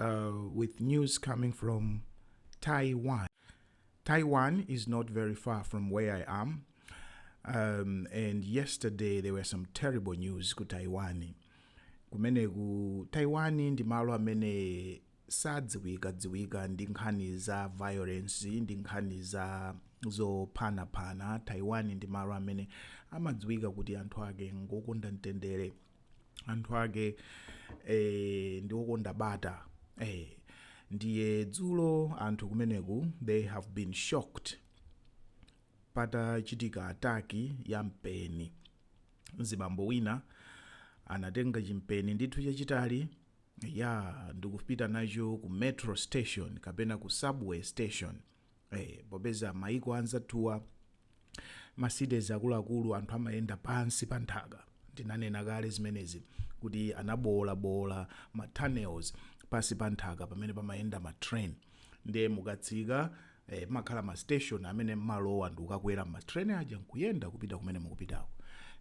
uh, with news coming from Taiwan. Taiwan is not very far from where I am. Um, and yesterday there were some terrible news ku Taiwan. Kumeneku Taiwan ndi malo amene sadziwika dziwika ndi nkhani za violence ndi nkhani za zophanaphana taiwan ndi malo amene amadziwika kuti anthu ake ngokonda mtendere anthu ake eh, ndi okonda bata eh, ndiye dzulo anthu kumeneku they have been shocked patachitika ataki ya mpeni mzibambo wina anatenga chimpeni ndithu chachitali ya ndikupita nacho ku metro station kapena ku subway station eh, popeza maiko anzathuwa macities akuluakulu anthu amayenda pansi pa nthaka ndinanena kale zimenezi kuti anaboolaboola ma tunnels pansi pa nthaka pamene pamayenda ma train ndiye mukatsika eh, amakhala ma station amene mmalowa ndi kukakwera ma train aja nkuyenda kupita kumene mukupitako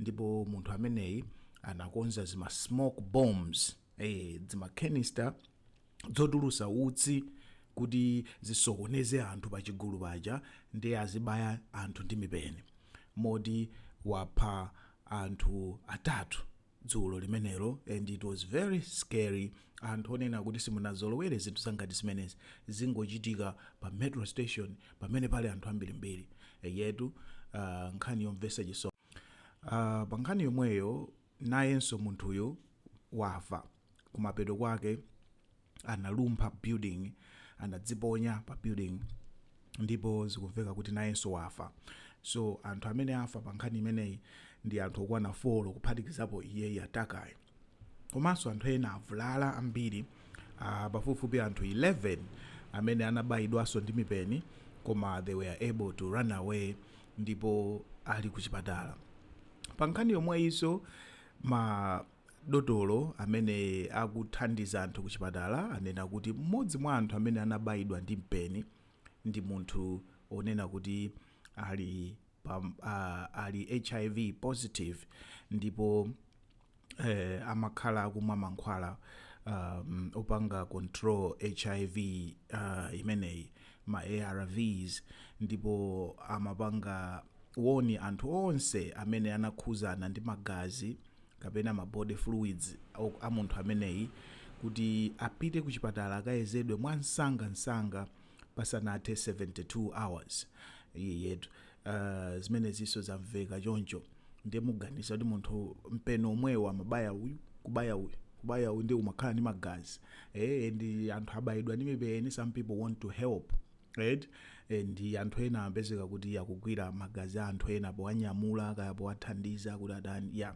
ndipo munthu ameneyi anakonza zima smoke bombs eh, zima canister zotulutsa utsi kuti zisokoneze anthu pa chigulu paja ndiye azibaya anthu ndi mipeni moti wapha anthu atatu dzulo limenelo and it was very scary anthu onena kuti simunazolowere zinthu zangati zimenezi zikungochitika pa metro station pamene pali anthu ambirimbiri eyetu uh, nkhani yomvetsa chisoni uh, pa nkhani yomweyo nayenso munthuyu wafa kumapeto kwake analumpha building anadziponya pa building ndipo zikumveka kuti nayenso wafa so anthu amene afa pa nkhani imeneyi ndi anthu okwana 4 kuphatikizapo iyeyu atakayu komanso anthu ena avulala ambiri uh, pafupifupi anthu 11 amene anabayidwanso ndi mipeni koma they were able to run away ndipo ali ku chipatala pa nkhani yomweyinso ma Dotolo amene akuthandiza anthu kuchipatala anena kuti m'modzi mwa anthu amene anabayidwa ndi mpeni ndi munthu onena kuti ali pa ali hiv positive ndipo amakhala akumwa mankhwala opanga control hiv imeneyi ma ARV's ndipo amapanga woni anthu onse amene anakhuzana ndi magazi kapena ma body fluids a munthu ameneyi kuti apite ku chipatala akayezedwe mwa nsanga nsanga pasanathe 72 hours iyeyetu uh, zimenezinso zamveka choncho ndiye muganiza kuti munthu mpeni omwewo amabaya uyu kubaya uyu kubaya uyu ndi umakhala ndi magazi eh and anthu abayidwa ndi mipeni some people want to help eti eh, and anthu ena apezeka kuti akugwira magazi a anthu ena powanyamula kaya powathandiza kuti atani ya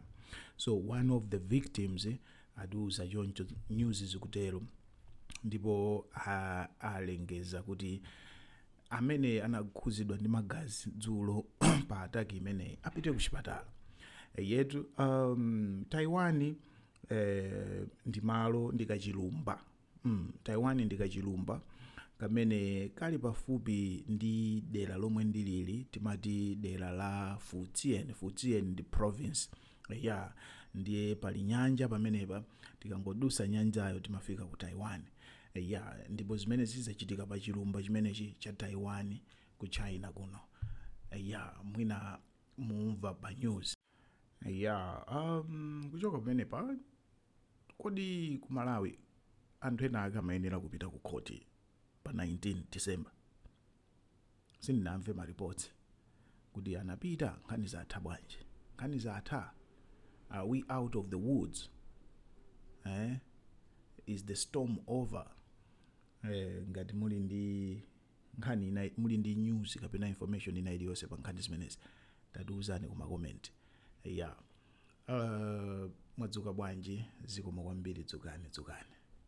so one of the victims eh, atiuza choncho news zikutero ndipo a- alengeza kuti amene anakhuzidwa ndi magazi dzulo pa ataki imeneyi apite ku chipatala yetu um, taiwan eh, ndi malo ndi kachilumba Hmm, Taiwan ndi kachilumba kamene kali pafupi ndi dera lomwe ndilili timati dera la Fujian. Fujian ndi province ya ndiye pali nyanja pamenepa tikangodusa nyanjayo timafika ku Taiwan ya ndipo zimene zidzachitika pa chilumba chimenechi cha Taiwan ku China kuno ya mwina mumva pa news ya um, kuchoka pamenepa Kodi ku Malawi anthu enaake amayenera kupita kukhoti pa 19 December? Sindinamve ma reports kuti anapita. Nkhani zatha bwanji? Nkhani zatha? Are we out of the woods? Eeh is the storm over? Ngati muli ndi nkhani, muli ndi news kapena information ina iliyonse pa nkhani zimenezi tatiuzani ku ma comment. Eya. Uh, mwadzuka bwanji? Zikomo kwambiri. Dzukani, dzukani.